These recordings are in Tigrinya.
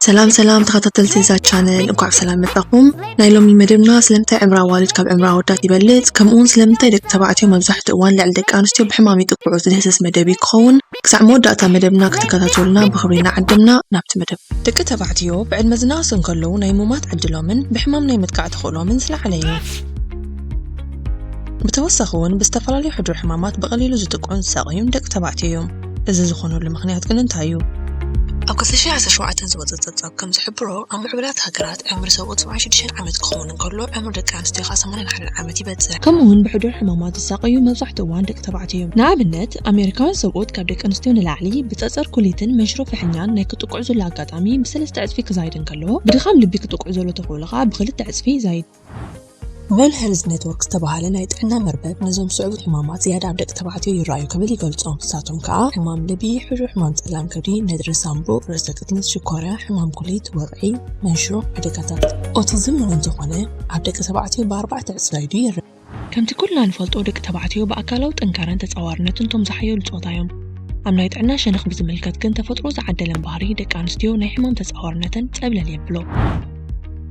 ሰላም ሰላም ተኸታተልቲ እዛ ቻነል እንኳዕ ብሰላም መፃኹም። ናይ ሎሚ መደብና ስለምንታይ ዕምራ ኣዋልድ ካብ ዕምራ ኣወዳት ይበልፅ ከምኡውን ስለምንታይ ደቂ ተባዕትዮ መብዛሕትኡ እዋን ልዕሊ ደቂ ኣንስትዮ ብሕማም ይጥቅዑ ዝድህስስ መደብ እዩ ክኸውን። ክሳዕ መወዳእታ መደብና ክትከታተሉና ብኽብሪ እናዓደምና ናብቲ መደብ ደቂ ተባዕትዮ ብዕድመ ዝነኣሱ እንከለዉ ናይ ሙማት ዕድሎምን ብሕማም ናይ ምጥቃዕ ተኽእሎምን ዝለዓለ እዩ። ብተወሳኺ እውን ብዝተፈላለዩ ሕዱር ሕማማት ብቐሊሉ ዝጥቅዑን ዝሳቐዩን ደቂ ተባዕትዮ እዮም። እዚ ዝኾነሉ ምኽንያት ግን እንታይ እዩ? ኣብ ክልተ ሽሕ ዓሰርተ ሸውዓተ ዝወጸ ጸብጻብ ከም ዝሕብሮ፣ ኣብ ምዕቡላት ሃገራት ዕምሪ ሰብኡት ሰብዓን ሽዱሽተን ዓመት ክኸውን እንከሎ፣ ዕምሪ ደቂ ኣንስትዮ ከኣ ሰማንያን ሓደን ዓመት ይበጽሕ። ከምኡ'ውን ብሕዱር ሕማማት ዝሳቐዩ መብዛሕትኡ እዋን ደቂ ተባዕትዮ እዮም። ንኣብነት፣ ኣመሪካውያን ሰብኡት ካብ ደቂ ኣንስትዮ ንላዕሊ ብጸጸር ኩሊትን መንሽሮ ፍሕኛን ናይ ክጥቅዑ ዘሎ ኣጋጣሚ ብሰለስተ ዕጽፊ ክዛይድ እንከሎ፣ ብድኻም ልቢ ክጥቅዑ ዘሎ ተኽእሎ ከኣ ብኽልተ ዕጽፊ ይዛይድ። ዌል ሄልዝ ኔትወርክ ዝተባህለ ናይ ጥዕና መርበብ ነዞም ዝስዕቡ ሕማማት ዝያዳ ኣብ ደቂ ተባዕትዮ ይረኣዩ ክብል ይገልጾም። ንሳቶም ከኣ ሕማም ልቢ፣ ሕዱር ሕማም ጸላም ከብዲ፣ ነድሪ ሳንቡእ፣ ርእሰ ቅትለት፣ ሽኮርያ፣ ሕማም ኩሊት፣ ወቕዒ፣ መንሽሮ፣ ሓደጋታት ኦቲዝም እውን እንተኾነ ኣብ ደቂ ተባዕትዮ ብኣርባዕተ ዕጽፊ ዛይዱ ይረኣ። ከምቲ ኩልና ንፈልጦ ደቂ ተባዕትዮ ብኣካላዊ ጥንካረን ተጻዋርነትን እቶም ዝሓየሉ ጾታ እዮም። ኣብ ናይ ጥዕና ሸነኽ ብዝምልከት ግን ተፈጥሮ ዝዓደለን ባህሪ ደቂ ኣንስትዮ ናይ ሕማም ተጻዋርነተን ጸብለል የብሎ።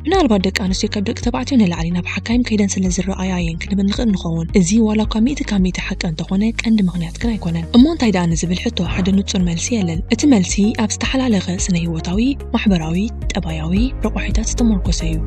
ምናልባት ደቂ ኣንስትዮ ካብ ደቂ ተባዕትዮ ንላዕሊ ናብ ሓካይም ከይደን ስለ ዝረኣያ እየን ክንብል ንኽእል ንኸውን። እዚ ዋላ እኳ ሚእቲ ካብ ሚእቲ ሓቂ እንተኾነ ቀንዲ ምኽንያት ግን ኣይኮነን። እሞ እንታይ ደኣ ንዝብል ሕቶ ሓደ ንጹር መልሲ የለን። እቲ መልሲ ኣብ ዝተሓላለኸ ስነ-ህይወታዊ፣ ማሕበራዊ፣ ጠባያዊ ረቋሒታት ዝተሞርኮሰ እዩ።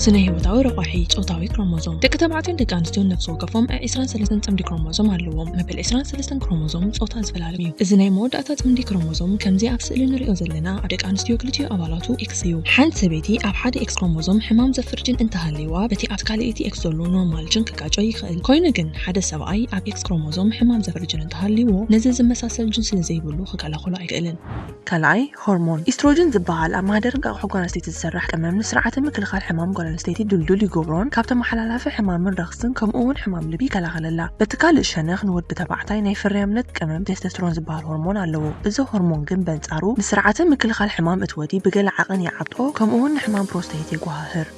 ስነ-ህይወታዊ ረቋሒ፣ ጾታዊ ክሮሞዞም። ደቂ ተባዕትዮን ደቂ ኣንስትዮን ነፍሲ ወከፎም ዕ ዕስራን ሰለስተን ጽምዲ ክሮሞዞም ኣለዎም። መበል ዕስራን ሰለስተን ክሮሞዞም ጾታ ዝፈላልም እዩ። እዚ ናይ መወዳእታ ጽምዲ ክሮሞዞም ከምዚ ኣብ ስእሊ ንርእዮ ዘለና ኣብ ደቂ ኣንስትዮ ክልቲኡ ኣባላቱ፣ ኤክስ እዩ። ሓንቲ ሰበይቲ ኣብ ሓደ ኤክስ ክሮሞዞም ሕማም ዘፍር ጅን እንተሃልይዋ በቲ ኣብቲ ካልእይቲ ኤክስ ዘሎ ኖርማል ጅን ክጋጮ ይኽእል። ኮይኑ ግን ሓደ ሰብኣይ ኣብ ኤክስ ክሮሞዞም ሕማም ዘፍር ጅን እንተሃልይዎ ነዚ ዝመሳሰል ጅን ስለ ዘይብሉ ክከላኸሎ ኣይክእልን። ካልኣይ፣ ሆርሞን ኢስትሮጅን ዝበሃል ኣብ ማህደር እንቃቑሖ ጓል ኣንስተይቲ ዝስራሕ ቀመም ንስርዓተ ምክልኻል ሕማም ጓል ኣንስተይቲ ድልዱል ይገብሮን ካብ ተመሓላላፊ ሕማምን ረኽስን ከምኡ እውን ሕማም ልቢ ይከላኸለላ። በቲ ካልእ ሸነኽ ንወዲ ተባዕታይ ናይ ፍርያምነት። ቅመም ቴስተስትሮን ዝበሃል ሆርሞን ኣለዎ። እዚ ሆርሞን ግን በንጻሩ ንስርዓተ ምክልኻል ሕማም እት ወዲ ብገለ ዓቕን ይዓብጦ ከምኡውን ንሕማም ፕሮስተይት የጎሃህር።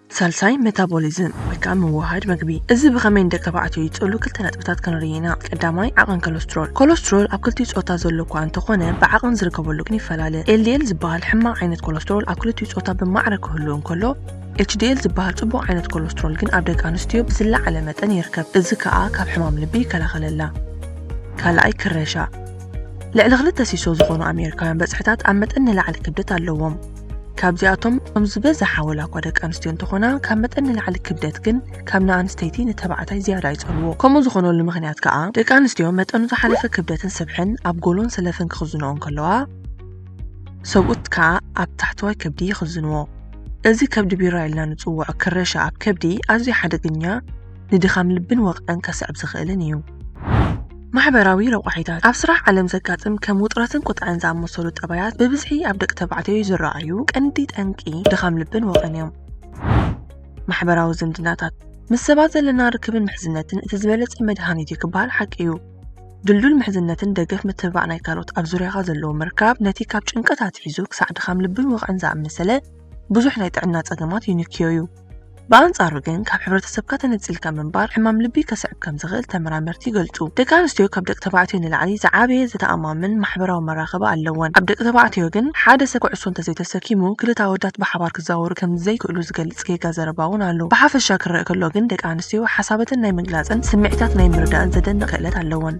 ሳልሳይ፣ መታቦሊዝም ወይ ከኣ ምውህሃድ መግቢ። እዚ ብኸመይ ንደቂ ተባዕትዮ ይጸሉ ክልተ ነጥብታት ክንርኢ ኢና። ቀዳማይ፣ ዓቕን ከለስትሮል። ኮለስትሮል ኣብ ክልቲኡ ጾታ ዘሎ እኳ እንተ ኾነ ብዓቕን ዝርከበሉ ግን ይፈላለ። ኤልዲኤል ዝበሃል ሕማቕ ዓይነት ኮለስትሮል ኣብ ክልቲኡ ጾታ ብማዕረ ክህሉ እንከሎ፣ ኤችዲኤል ዝበሃል ጽቡቕ ዓይነት ኮለስትሮል ግን ኣብ ደቂ ኣንስትዮ ብዝለዓለ መጠን ይርከብ፣ እዚ ከኣ ካብ ሕማም ልቢ ይከላኸለላ። ካልኣይ ክረሻ፣ ልዕሊ ክልተ ሲሶ ዝኾኑ ኣሜሪካውያን በጽሕታት ኣብ መጠን ንላዕሊ ክብደት ኣለዎም። ካብዚኣቶም እቶም ዝበዝሓ ወላኳ ደቂ ኣንስትዮ እንተኾና ካብ መጠን ንላዕሊ ክብደት ግን ካብ ንኣንስተይቲ ንተባዕታይ ዝያዳ ይጸልዎ። ከምኡ ዝኾነሉ ምኽንያት ከኣ ደቂ ኣንስትዮ መጠኑ ዝሓለፈ ክብደትን ስብሕን ኣብ ጎሎን ሰለፍን ክኽዝንኦ እንከለዋ፣ ሰብኡት ከኣ ኣብ ታሕተዋይ ከብዲ ይኽዝንዎ። እዚ ከብዲ ቢራ ኢልና ንጽውዖ ክረሻ ኣብ ከብዲ ኣዝዩ ሓደገኛ፣ ንድኻም ልብን ወቕዕን ከስዕብ ዝኽእልን እዩ። ማሕበራዊ ረቋሒታት፣ ኣብ ስራሕ ዓለም ዘጋጥም ከም ውጥረትን ቁጥዐን ዝኣመሰሉ ጠባያት ብብዝሒ ኣብ ደቂ ተባዕትዮ ዝረኣዩ ቀንዲ ጠንቂ ድኻም ልብን ወቕዕን እዮም። ማሕበራዊ ዝምድናታት፣ ምስ ሰባት ዘለና ርክብን ምሕዝነትን እቲ ዝበለጸ መድሃኒት እዩ ክበሃል ሓቂ እዩ። ድልዱል ምሕዝነትን ደገፍ ምትብባዕ ናይ ካልኦት ኣብ ዙርያኻ ዘለዎ ምርካብ ነቲ ካብ ጭንቀት ኣትሒዙ ክሳዕ ድኻም ልብን ወቕዕን ዝኣመሰለ ብዙሕ ናይ ጥዕና ጸገማት ይንክዮ እዩ። ብኣንጻሩ ግን ካብ ሕብረተሰብካ ተነጺልካ ምንባር ሕማም ልቢ ከስዕብ ከም ዝኽእል ተመራመርቲ ይገልጹ። ደቂ ኣንስትዮ ካብ ደቂ ተባዕትዮ ንላዕሊ ዝዓበየ ዘተኣማምን ማሕበራዊ መራኸቢ ኣለወን። ኣብ ደቂ ተባዕትዮ ግን ሓደ ሰብ ኩዕሶ እንተዘይተሰኪሙ ክልተ ኣወዳት ብሓባር ክዛወሩ ከም ዘይክእሉ ዝገልጽ ዝገልጽ ጌጋ ዘረባ'ውን ኣሎ። ብሓፈሻ ክረኣ ከሎ ግን ደቂ ኣንስትዮ ሓሳበተን ናይ ምግላጽን ስምዒታት ናይ ምርዳእን ዘደንቕ ክእለት ኣለወን።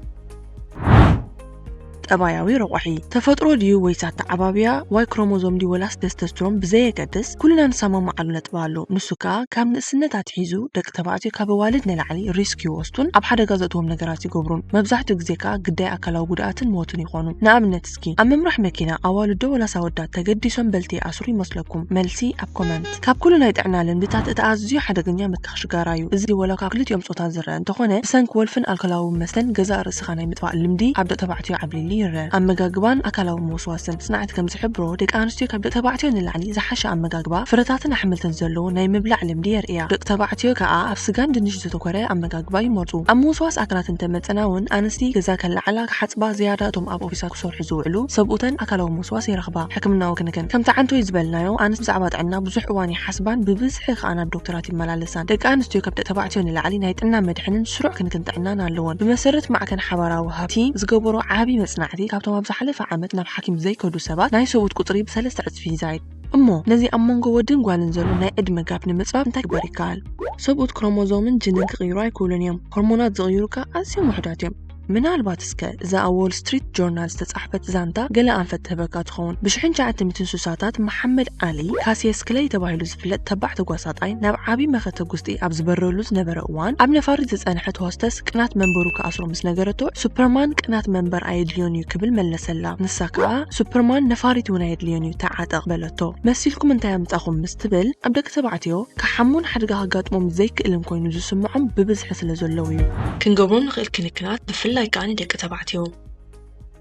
ጠባያዊ ረቋሒ፣ ተፈጥሮ ድዩ ወይስ ኣተዓባብያ፣ ዋይ ክሮሞዞም ድዩ ወላስ ተስተስትሮን ብዘየገድስ ኩልና ንሰማማዓሉ ነጥቢ ኣሎ። ንሱ ከኣ ካብ ንእስነት ኣትሒዙ ደቂ ተባዕትዮ ካብ ኣዋልድ ንላዕሊ ሪስክ ይወስዱን ኣብ ሓደጋ ዘእትዎም ነገራት ይገብሩን። መብዛሕትኡ ግዜ ከኣ ግዳይ ኣካላዊ ጉድኣትን ሞትን ይኾኑ። ንኣብነት፣ ኣወዳትኪ ኣብ ምምራሕ መኪና ኣዋልዶ ወላስ ኣወዳት ተገዲሶም በልቲ ይኣስሩ ይመስለኩም? መልሲ ኣብ ኮመንት። ካብ ኩሉ ናይ ጥዕና ልምድታት እቲ ኣዝዩ ሓደገኛ ምትካኽ ሽጋራ እዩ። እዚ ወላ እኳ ክልቲኦም ጾታ ዝረኣ እንተኾነ ብሰንኪ ወልፍን ኣልኮላዊ መስተን ገዛእ ርእስኻ ናይ ምጥፋእ ልምዲ ኣብ ደቂ ተባዕትዮ ዓብሊሉ ይረኣ። ኣመጋግባን ኣካላዊ ምውስዋስን። ጽናዕት ከም ዝሕብሮ ደቂ ኣንስትዮ ካብ ደቂ ተባዕትዮ ንላዕሊ ዝሓሸ ኣመጋግባ ፍረታትን ኣሕምልትን ዘለዎ ናይ ምብላዕ ልምዲ የርእያ። ደቂ ተባዕትዮ ከኣ ኣብ ስጋን ድንሽ ዘተኮረ ኣመጋግባ ይመርጹ። ኣብ ምውስዋስ ኣካላት እንተመጸና ውን ኣንስቲ ገዛ ከለዓዕላ ክሓጽባ ዝያዳ እቶም ኣብ ኦፊሳት ክሰርሑ ዝውዕሉ ሰብኡተን ኣካላዊ ምውስዋስ ይረኽባ። ሕክምናዊ ክንክን፣ ከምቲ ዓንቶይ ዝበልናዮ፣ ኣንስቲ ብዛዕባ ጥዕና ብዙሕ እዋን ይሓስባን ብብዝሒ ከኣ ናብ ዶክተራት ይመላለሳን። ደቂ ኣንስትዮ ካብ ደቂ ተባዕትዮ ንላዕሊ ናይ ጥዕና መድሕንን ስሩዕ ክንክን ጥዕናን ኣለወን። ብመሰረት ማዕከን ሓባራዊ ሃብቲ ዝገበሮ ዓቢ መጽናዕቲ፣ ካብቶም ኣብ ዝሓለፈ ዓመት ናብ ሓኪም ዘይከዱ ሰባት ናይ ሰብኡት ቁጽሪ ብሰለስተ ዕጽፊ ይዛይድ። እሞ ነዚ ኣብ መንጎ ወድን ጓልን ዘሎ ናይ ዕድመ ጋፕ ንምጽባብ እንታይ ክግበር ይከኣል? ሰብኡት ክሮሞዞምን ጅንን ክቕይሩ ኣይክእሉን እዮም። ሆርሞናት ዝቕይሩ ከኣ ኣዝዮም ውሑዳት እዮም። ምናልባት እስከ እዛ ኣብ ዎል ስትሪት ጆርናል ዝተጻሕፈት ዛንታ ገለ ኣንፈት ትህበካ ትኸውን። ብሽሕን ሸዓተ ሚትን ስሳታት መሓመድ ዓሊ፣ ካሲየስ ክለይ ተባሂሉ ዝፍለጥ ተባዕ ተጓሳጣይ፣ ናብ ዓቢ መኸተ ጉስጢ ኣብ ዝበረሉ ዝነበረ እዋን፣ ኣብ ነፋሪት ዝጸንሐት ሆስተስ ቅናት መንበሩ ክኣስሮ ምስ ነገረቶ፣ ሱፐርማን ቅናት መንበር ኣየድልዮን'ዩ ክብል መለሰላ። ንሳ ከኣ ሱፐርማን ነፋሪት'ውን ኣየድልዮን'ዩ ተዓጠቕ በለቶ። ሕቶ፣ መሲልኩም እንታይ ኣምጻኹም ምስ ትብል፣ ኣብ ደቂ ተባዕትዮ ክሓሙን ሓደጋ ከጋጥሞም ዘይክእልን ኮይኑ ዝስምዖም ብብዝሒ ስለ ዘለዉ እዩ። ክንገብሮ ንኽእል ክንክናት ብፍላይ ከኣ ንደቂ ተባዕትዮ።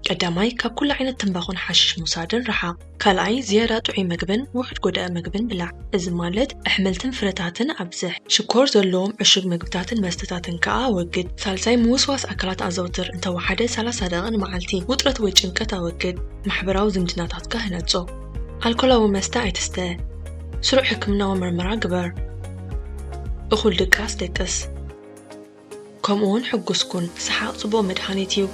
ቀዳማይ፣ ካብ ኩሉ ዓይነት ትምባኾን ሓሽሽ ምውሳድን ርሓቕ። ካልኣይ፣ ዝያዳ ጥዑይ መግብን ውሑድ ጎዳኢ መግብን ብላዕ። እዚ ማለት ኣሕምልትን ፍረታትን ኣብዝሕ። ሽኮር ዘለዎም ዕሹግ መግብታትን መስተታትን ከኣ ኣወግድ። ሳልሳይ፣ ምውስዋስ ኣካላት ኣዘውትር፣ እንተወሓደ ሰላሳ ደቒቕ ንመዓልቲ። ውጥረት ወይ ጭንቀት ኣወግድ። ማሕበራዊ ዝምድናታትካ ህነጾ። ኣልኮላዊ መስተ ኣይትስተ፣ ስሩዕ ሕክምናዊ ምርመራ ግበር፣ እኹል ድቃስ ደቅስ፣ ከምኡውን ሕጉስ ኩን። ሰሓቕ ጽቡቕ መድሃኒት እዩ።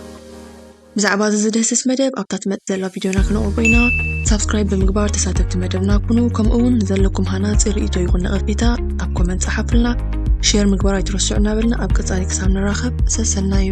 ብዛዕባ እዚ ዝድህስስ መደብ ኣብታ ትመጽእ ዘላ ቪድዮና ክነቕርቦ ኢና። ሳብስክራይብ ብምግባር ተሳተፍቲ መደብና ኩኑ። ከምኡውን ንዘለኩም ሃናጺ ርእይቶ ይኹን ነቐፌታ ኣብ ኮመንት ጸሓፉልና። ሼር ምግባር ኣይትረስዑ እናበልና ኣብ ቀጻሊ ክሳብ ንራኸብ ሰሰናዩ።